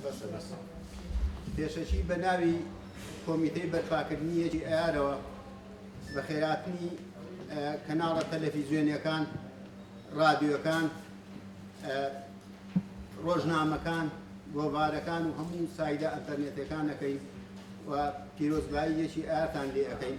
بەسە بەسە پێشەکی بە ناوی کۆمیتەی بەرپاکردنی یەکی ئەیارەوە بە خێراتنی کەناڵە تەلەفیزیۆنیەکان ڕادیۆکان ڕۆژنامەکان گۆڤارەکان و هەموو سایدە ئەتەرنێتەکانەکەی و پیرۆزبایی یەکی ئارتان لێ ئەەکەین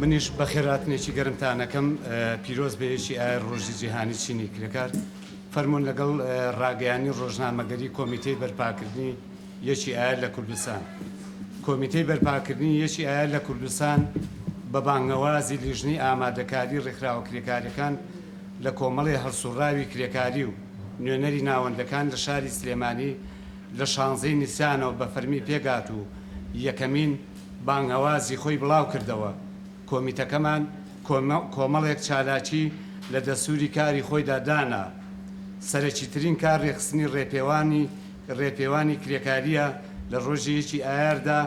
منیش بەخێراتنێکی گەرمتانەکەم پیرۆز بەیەکی ئای ڕۆژی جیهانی چینی کرێکار فەرمونون لەگەڵ ڕاگەیانی ڕۆژنامەگەری کۆمیتەی بەرپاکردنی یەکی ئایا لە کوردستان کۆمیتەی بەرپاکردنی یەکی ئایا لە کوردستان بە بانگەوازی لیژنی ئامادەکاری ڕێکخراوە کرێکارەکان لە کۆمەڵی هەڵسوڕاوی کرێکاری و نوێنەری ناوەندەکان لە شاری سلێمانی لە شانزەی نیسانەوە بە فەرمی پێکهات و یەکەمین بانگەوازی خۆی بڵاوکردەوە، کۆمیتەکەمان کۆمەڵێک چالاکی لە دەستووری کاری خۆیدا دانا، سەرەکیترین کار رێکخستنی رێپێوانی رێپێوانی کرێکارییە لە رۆژی یەکی ئایاردا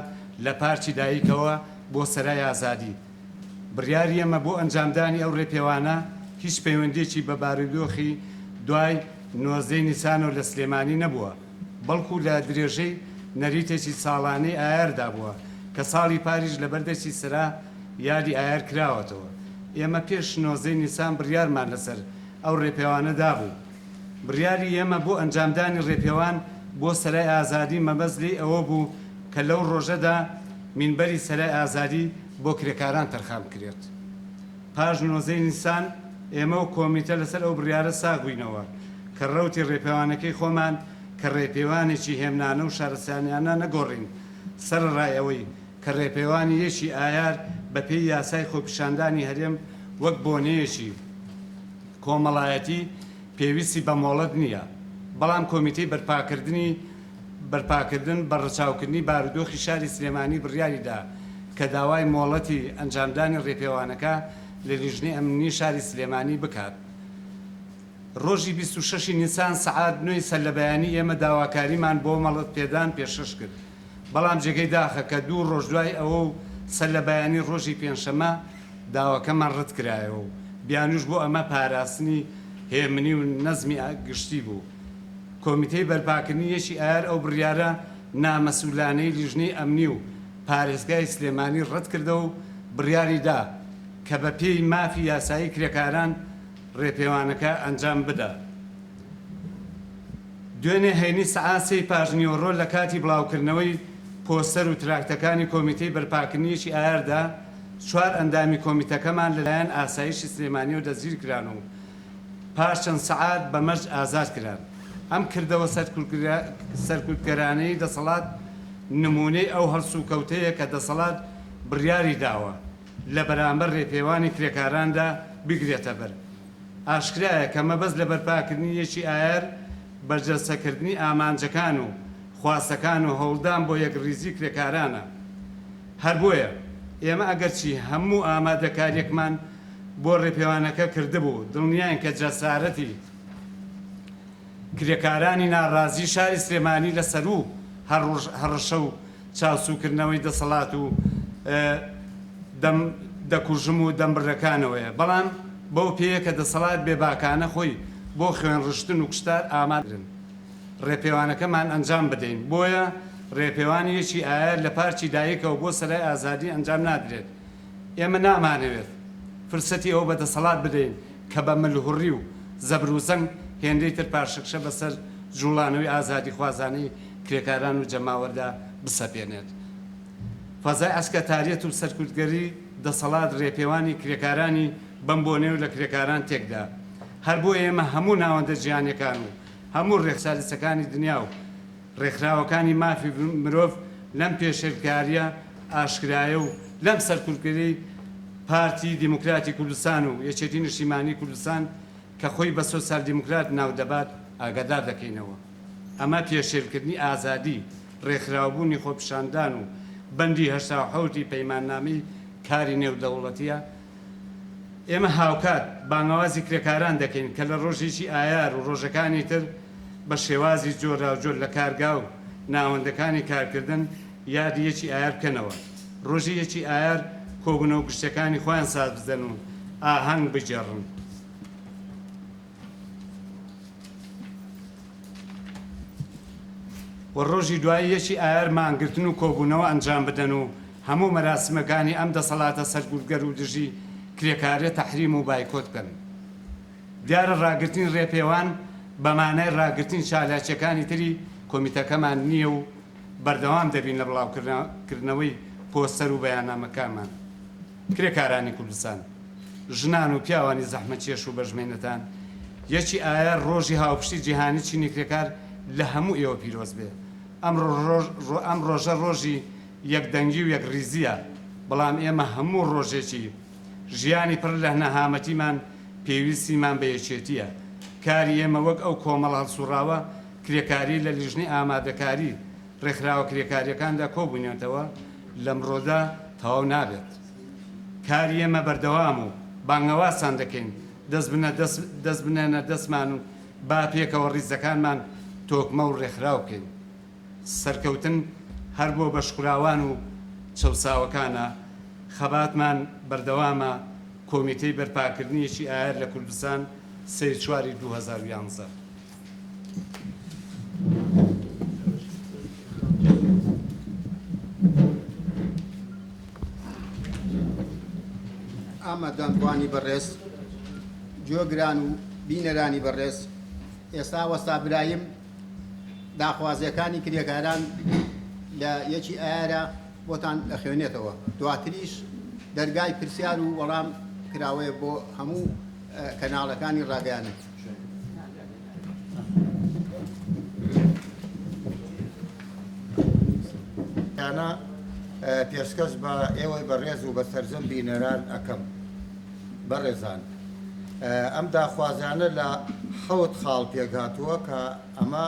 لە پارکی دایکەوە بۆ سەرای ئازادی. بڕیاری ئێمە بۆ ئەنجامدانی ئەو ڕێپێوانە هیچ پەیوەندییەکی بە بارودۆخی دوای نۆزدە ی نیسان و لە سلێمانی نەبووە، بەڵکو لە درێژەی نەریتێکی ساڵانەی ئایاردا بووە، کە ساڵی پاریش لەبەر دەستی سەرا یادی ئایار کراوەتەوە. ئێمە پێش نۆزدە ی نیسان بڕیارمان لەسەر ئەو ڕێپێوانە دابوو. بڕیاری ئێمە بۆ ئەنجامدانی ڕێپێوان بۆ سەرای ئازادی مەبەست لێی ئەوە بوو کە لەو ڕۆژەدا مینبەری سەرای ئازادی بۆ کرێکاران تەرخان بکرێت. پاش نۆزدە ی نیسان ئێمە و کۆمیتە لەسەر ئەو بڕیارە ساغ بووینەوە کە ڕەوتی ڕێپێوانەکەی خۆمان کە ڕێپێوانێکی هێمنانە و شارستانیانە نەگۆڕین سەرەڕای ئەوەی کە ڕێپێوانی یەکی ئایار بەپێی یاسای خۆپیشاندانی هەرێم وەک بۆنەیەکی کۆمەڵایەتی پێویستی بە مۆڵەت نییە، بەڵام کۆمیتەی بەرپاکردنی بەرپاکردن بە ڕەچاوکردنی بارودۆخی شاری سلێمانی بڕیاریدا کە داوای مۆڵەتی ئەنجامدانی ڕێپێوانەکە لە لیژنەی ئەمنی شاری سلێمانی بکات ڕۆژی بیست و شەش ی نیسان سەعات نۆ ی سەرلەبەیانی ئێمە داواکاریمان بۆ مەڵەتپێدان پێشکەش کرد. بەڵام جێگەی داخە کە دوو ڕۆژ دوای ئەوە و سەر لە بەیانی ڕۆژی پێنجشەممە داواکەمان ڕەتکرایەوە و بیانووش بۆ ئەمە پاراستنی هێمنی و نەزمی گشتی بوو. کۆمیتەی بەرپاکردنی یەکی ئایار ئەو بڕیارە نامەسوولانەی لیژنەی ئەمنی و پارێزگای سلێمانی ڕەتکردەوە و بڕیاریدا کە بەپێی مافی یاسایی کرێکاران ڕێپێوانەکە ئەنجام بدا. دوێنێ هەینی سەعات سێی پاشنیوەڕۆ لە کاتی بڵاوکردنەوەی پۆستەر و تراکتەکانی کۆمیتەی بەرپاکردنیی ئایاردا، چوار ئەندامی کۆمیتەکەمان لەلایەن ئاسایشی سلێمانییەوە دەستگیرکران و پاش چەند سەعات بە مەرج ئازاد کران. ئەم کردەوە سەرکوتگەرانەی دەسەڵات نموونەی ئەو هەڵسوکەوتەیە کە دەسەڵات بڕیاری داوە. لە بەرامبەر ڕێپێوانی کرێکاراندا بگرێتەبەر. ئاشکرایە کە مەبەست لە بەرپاکردنی یەکی ئایار بەرجەستەکردنی ئامانجەکان و خواستەکان و هەوڵدان بۆ یەکڕیزی کرێکارانە. هەر بۆیە ئێمە ئەگەرچی هەموو ئامادەکاریەکمان بۆ ڕێپێوانەکە کردبوو، دڵنیاین کە جەسارەتی کرێکارانی ناڕازی شاری سلێمانی لە سەروو هەڕشە و چاوسوکردنەوەی دەسەڵات و دەم دەکوژم و دەم بڕەکانەوەیە، بەڵام بەو پێیە کە دەسەڵات بێباکانە خۆی بۆ خوێنڕشتن و کوشتار ئامادەکرد ڕێپێوانەکەمان ئەنجام بدەین، بۆیە ڕێپێوان یەکی ئایار لە پارکی دایکەوە بۆ سەرای ئازادی ئەنجام نادرێت، ئێمە نامانەوێت فرسەتی ئەوە بە دەسەڵات بدەین کە بە ملهوڕی و زەبروزەنگ هێندەی تر پاشەکشە بەسەر جوڵانەوەی ئازادیخوازانەی کرێکاران و جەماوەردا بسەپێنێت. فەزای عەسکەتاریەت و سەرکوتگەری دەسەڵات رێپێوانی کرێکارانی بەم بۆنەی و لە کرێکاران تێکدا. هەر بۆیە ئێمە هەموو ناوەندە جیهانیەکان و هەموو رێکچارەسەکانی دنیا و رێکخراوەکانی مافی مرۆڤ لەم پێشێلکاریە ئاشکرایە و لەم سەرکوتگەری پارتی دیموکراتی کوردستان و یەکێتی نیشتیمانی کوردستان کە خۆی بە سۆسیال دیموکرات ناو دەبات ئاگادار دەکەینەوە. ئەمە پێشێلکردنی ئازادی ڕێکخراوبوونی خۆپیشاندان و بەندی هەشتا و حەوت ی پەیماننامەی کاری نێودەوڵەتییە. ئێمە هاوکات بانگەوازی کرێکاران دەکەین کە لە ڕۆژێکی ئایار و ڕۆژەکانی تر بە شێوازی جۆراوجۆر لە کارگا و ناوەندەکانی کارکردن یادی یەکی ئایار بکەنەوە. ڕۆژی یەکی ئایار کۆبوونەوە گشتییەکانی خۆیان سازبدەن و ئاهەنگ بگێڕن. و ڕۆژی دوایی یەکی ئایار مانگرتن و کۆبوونەوە ئەنجام بدەن و هەموو مەراسیمەکانی ئەم دەسەڵاتە سەرکوتگەر و دژی کرێکاریە تەحریم و بایکۆت بکەن. دیارە ڕاگرتنی ڕێپێوان بە مانای ڕاگرتنی چالاکیەکانی تری کۆمیتەکەمان نیە و بەردەوام دەبین لە بڵاوکردنەوەی پۆستەر و بەیاننامەکانمان. کرێکارانی کوردستان، ژنان و پیاوانی زەحمەتکێش و بەشمەینەتان یەکی ئایار ڕۆژی هاوپشتی جیهانی چینی کرێکار لە هەموو ئێوە پیرۆز بێ. ئەم ڕۆژە ڕۆژی یەکدەنگی و یەکڕیزییە، بەڵام ئێمە هەموو ڕۆژێکی ژیانی پڕ لەهنەهامەتیمان پێویستیمان بە یەکێتییە. کاری ئێمە وەک ئەو کۆمەڵە هەڵسوڕاوە کرێکاری لە لیژنەی ئامادەکاری، ڕێکخراوە کرێکاریەکاندا کۆبوونەتەوە لەمڕۆدا تەواو نابێت کاری ئێمە بەردەوام و بانگەوازتان دەکەین دەست بنە دەست دەست بنێنە دەستمان و با پێکەوە ڕیزەکانمان تۆکمە و ڕێکخراو بکەین سەرکەوتن هەر بۆ بەشخوراوان و چەوساوەکانە خەباتمان بەردەوامە کۆمیتەی بەرپاکردنیەکی ئایەر لە کوردستان سێ چواری دوو هەزار و یازدە. ئامادەبانی بەڕێز جۆگران و بینەرانی بەڕێز ئێستا وەستا برایم داخوازیەکانی کرێکاران لە یەکی ئارە بۆتان ئەخوێنێتەوە دواتریش دەرگای پرسیار و وەڵام کراوەیە بۆ هەموو کەناڵەکانی ڕاگەیانن تانە پێشکەش بە ئێوەی بەڕێز و بە سەرجەم بینەران ئەەکەم بەڕێزان ئەم داخوازانە لە حەوت خاڵ پێکهاتووە کە ئەمە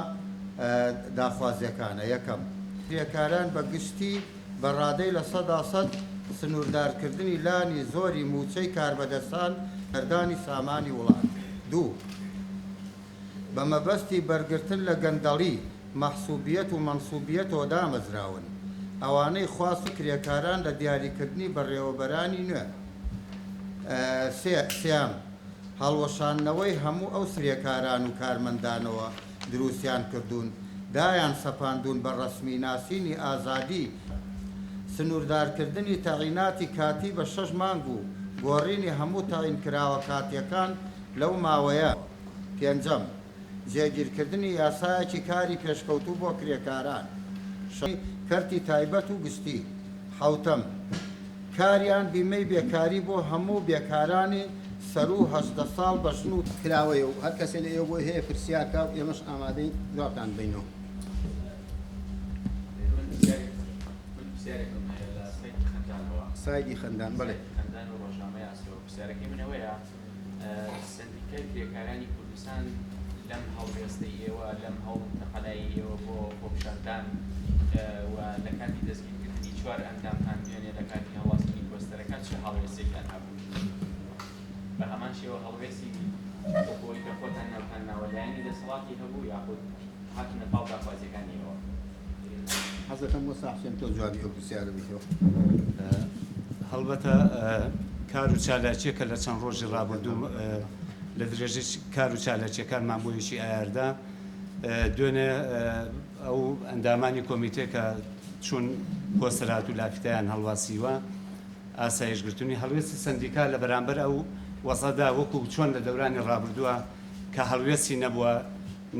داخوازیەکانە یەکەم کرێکاران بە گشتی بە ڕادەی لە سەدا سەد سنووردارکردنی لانی زۆری مووچەی کاربەدەستان سەردانی سامانی وڵات. دوو. بە مەبەستی بەرگرتن لە گەندەڵی، مەحسوبیەت و مەنسوبیەتەوە دامەزراون، ئەوانەی خواست کرێکاران لە دیاریکردنی بەڕێوەبەرانی نوێ. سێ. سیام، هەڵوەشاندنەوەی هەموو ئەو کرێکاران و کارمەندانەوە دروستیان کردوون، دایان سەپاندوون بە ڕەسمی ناسینی ئازادی، سنووردارکردنی تەعیناتی کاتی بە شەش مانگ و گۆڕینی هەموو تەعین کراوە کاتییەکان لەو ماوەیە. پێنجەم، جێگیرکردنی یاسایەکی کاری پێشکەوتوو بۆ کرێکاران، شەشەم، کەرتی تایبەت و گشتی، حەوتەم، کاریان بیمەی بێکاری بۆ هەموو بێکارانی سەروو هەژدە ساڵ بە ژن و. کراوەیە و هەر کەسێ لە ئێوە بۆی هەیە پرسیار کا و ئێمەش ئامادەین جوابتان بەینەوە. سایدی خەندان بەڵێ. سەندیکای کرێکارانی کوردستان لەم هەڵوێستەی ئێوە لەم هەوڵ تەقەلایی ئێوە بۆ خۆپیشاندان و لە کاتی دەستگیرکردنی چوار ئەندامتان دوێنێ لە کاتی هەڵواسینی پۆستەرەکە چ هەڵوێستێکیان هەبوو بە هەمان شێوە هەڵوێستی بۆی کە خۆتان ناوتان ناوە لایەنی دەسەڵاتی هەبوو یاخود هاتونە پاڵ داخوازیەکانی ئێوە. حەزەکەم مۆسا حوسێن تۆ جوابی ئەو پرسیارە بیتەوە. هەڵبەتە کار و چالاکیەکە لە چەند ڕۆژی ڕابردوو لە درێژەی کار و چالاکیەکانمان بۆ یەکی ئایاردا دوێنێ ئەو ئەندامانی کۆمیتێ کە چون کۆسرات و لافیتیان هەڵواسیوە ئاسایش گرتنی هەڵوێستی سندیکا لە بەرامبەر ئەو وەزەدا وەکو چۆن لە دەورانی ڕابردووە کە هەڵوێستی نەبووە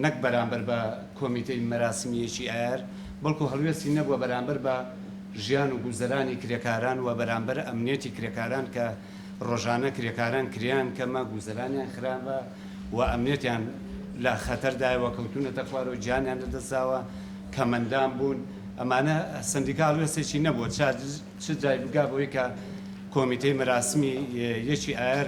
نەک بەرامبەر بە کۆمیتەی مەراسمییەکی ئایار، بەڵکو هەڵوێستی نەبووە بەرامبەر بە ژیان و گوزەرانی کرێکاران و بەرامبەر ئەمنیەتی کرێکاران کە ڕۆژانە کرێکاران کرێیان کەمە، گوزەرانیان خراپە و ئەمنیەتیان لە خەتەردایەوە کەوتوونەتە خوارەوە، گیانیان لەدەستداوە، کەمئەندام بوون، ئەمانە سەندیکا هەڵوێستێکی نەبووە چ جای بگا بەوەی کە کۆمیتەی مەراسمی یەکی ئایار،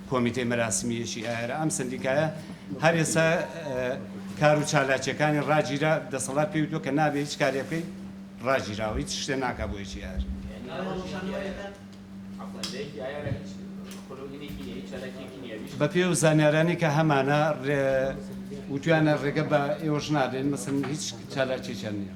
کۆمیتەی مەراسمی یەکی ئایارە ئەم سەندیکایە هەر ئێستا کار و چالاکیەکانی ڕاگیرا، دەسەڵات پێی وتووە کە نابێ هیچ کارێ بکەی ڕاگیراوە هیچ شتێ ناکا بۆ یەکی ئایار. بە پێی ئەو زانیارانەی کە هەمانە وتویانە ڕێگە بە ئێوەش نادەین مەسەن هیچ چالاکیەکیان نییە.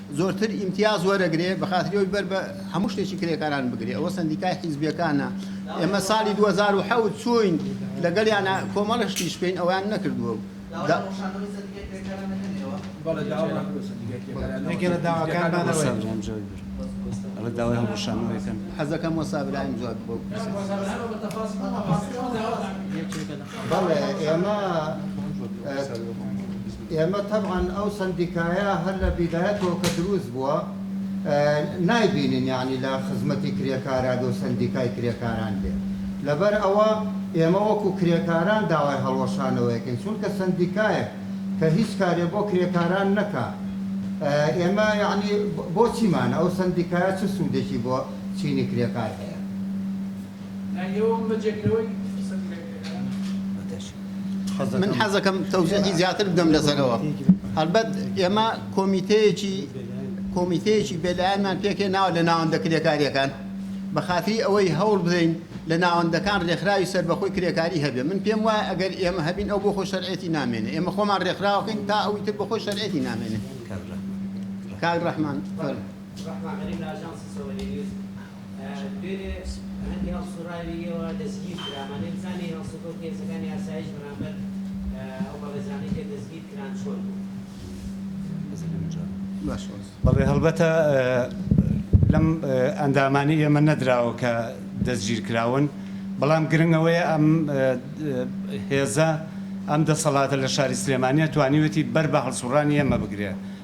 زۆرتر ئیمتیاز وەرەگرێ بەخاتری ئەوەی بەر بە هەموو شتێکی کرێکاران بگرێ ئەوە سەندیکای حیزبیەکانە ئێمە ساڵی 2007 چوین لەگەڵیانە کۆمەڵە شتیش کەین ئەویان نەکردووە و حەزەکەم وەستا برایم جواب بۆ بەڵێ ئێمە ئێمە تەبعەن ئەو سەندیکایە هەر لە بیدایەتەوە کە دروست بووە نایبینین یانی لە خزمەتی کرێکاران و سەندیکای کرێکاران بێت لەبەر ئەوە ئێمە وەکو کرێکاران داوای هەڵوەشانەوەیەکەین چونکە سەندیکایەک کە هیچ کارێ بۆ کرێکاران نەکا ئێمە یعنی بۆچیمان ئەو سەندیکایە چ سوودێکی بۆ چینی کرێکار هەیە؟ من حەزەکەم تەوزیحی زیاتر بدەم لەسەرەوە هەربەت ئێمە کۆمیتەیەکی کۆمیتەیەکی بێلایەنمان پێکێناوە لە ناوەندە کرێکاریەکان بە خاتری ئەوەی هەوڵ بدەین لە ناوەندەکان ڕێکخراوی سربەخۆی کرێکاری هەبێ من پێم وایە ئەگەر ئێمە هەبین ئەو بۆ خۆ شەرعێتی نامێنێ ئێمە خۆمان ڕێکخراوەکەین تا ئەوی تر بە خۆی شەرعێتی نامێنێ کاک ڕەحمان ڕەحمان غەریب لە ئاژانسی سەوەری نیوز دوێنێ هەندی هەڵسوڕاوی ئێوە دەستگیر کرا، ئەمانەی بزانێ هەڵسوکەوتی هێزەکانی ئاسایش بەرامبەر ئەو بەڕێزانەی کە دەستگیر کران چۆن بوو؟ بەڵێ هەڵبەتە لەم ئەندامانی ئێمە نەدراوە کە دەستگیر کراون، بەڵام گرنگ ئەوەیە ئەم هێزە ئەم دەسەڵاتە لە شاری سلێمانیە توانیوێتی بەر بە هەڵسوڕانی ئێمە بگرێ،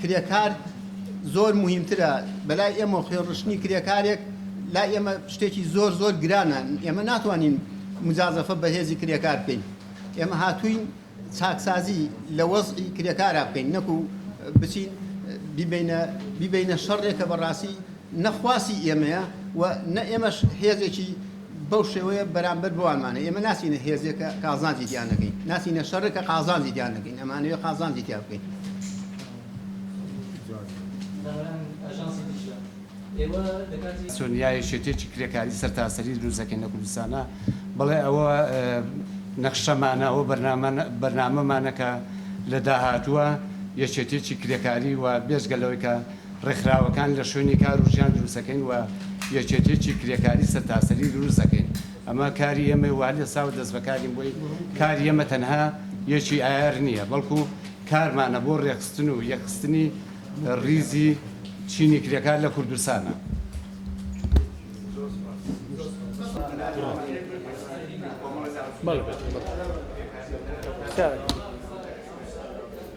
کرێکار زۆر موهیمترە بەلای ئێمە خوێن ڕشتنی کرێکارێک لای ئێمە شتێکی زۆر زۆر گرانە ئێمە ناتوانین مجازەفە بەهێزی کرێکار بکەین ئێمە هاتوین چاکسازی لە وەزعی کرێکارا بکەین نەکو بچین بیبینە بیبینە شەڕێکە بەڕاستی نە خواسی ئێمەیە و نە ئێمەش هێزێکی بەو شێوەیە بەرامبەر بەوانمان هەیە. ئێمە ناچینە هێزێک کە قازانجی تیا نەکەین، ناچینە شەڕێک کە قازانجی تیا نەکەین، ئەمانەوێت قازانجی تیا بکەین. سۆنیا یەکێتیەکی کرێکاری سەرتاسەری دروست دەکەین لە کوردستانا بەڵێ ئەوە نەخشەمانە ئەوە بەرنامەمانە کە لە داهاتووە یەکێتیەکی کرێکاری و بێجگە لەوەی کە ڕێکخراوەکان لە شوێنی کار و ژیان دروست دەکەین و یەکێتیەکی کرێکاری سەرتاسەری دروست دەکەین ئەمە کاری ئێمەی و هەر ئێستا و دەست بەکارین بۆی کاری ئێمە تەنها یەکی ئایار نییە بەڵکو کارمانە بۆ ڕێکخستن و یەکخستنی ڕیزی چینی کرێکار لە کوردستانە. بەڵێ بەڵێ کارەکە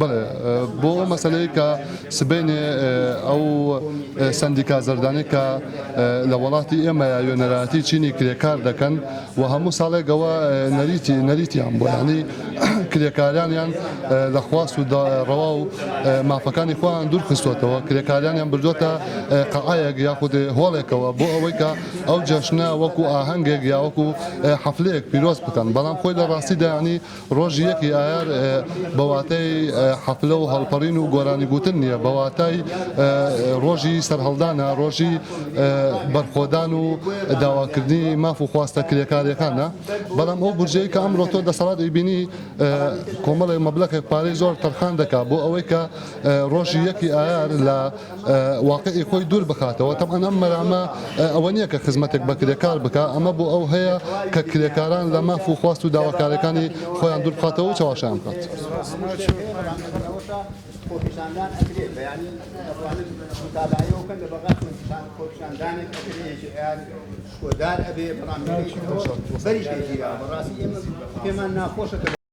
بەڵێ بۆ ئەو مەسەلەی کە سبەینێ ئەو سەندیکا زەردانەی کە لە وەڵاتی ئێمە یاوێنەرایەتی چینی کرێکار دەکەن و هەموو ساڵێکەوە نەریتی نەریتیان بۆ ینی کرێکاریانیان لە خواست و ڕەوا و مافەکانی خۆیان دوور خستوەتەوە کرێکاریانیان بردووەتە قەعەیەک یاخود هۆڵێکەوە بۆ ئەوەی کە ئەو جەشنە وەکو ئاهەنگێک یاوەکو حەفلەیەک پیرۆز بکەن بەڵام خۆی لە ڕاستیدا ینی ڕۆژی یەکی ئایار بە واتای حەفلە و هەڵپەڕین و گۆرانی گوتن نییە، بە واتای ڕۆژی سەرهەڵدانە، ڕۆژی بەرخۆدان و داواکردنی ماف و خواستە کرێکاریەکانە. بەڵام ئەو بودجەی کە ئەمڕۆ تۆ دەسەڵات ئەیبینی کۆمەڵێ مەبلەخێک پارەی زۆر تەرخان دەکا بۆ ئەوەی کە ڕۆژی یەکی ئایار لە واقعی خۆی دوور بخاتەوە، تەبعەن ئەم مەرامە ئەوە نییە کە خزمەتێک بە کرێکار بکا، ئەمە بۆ ئەو هەیە کە کرێکاران لە ماف و خواست و داواکاریەکانی خۆیان دوور بخاتەوە و چەواشەیان بکات.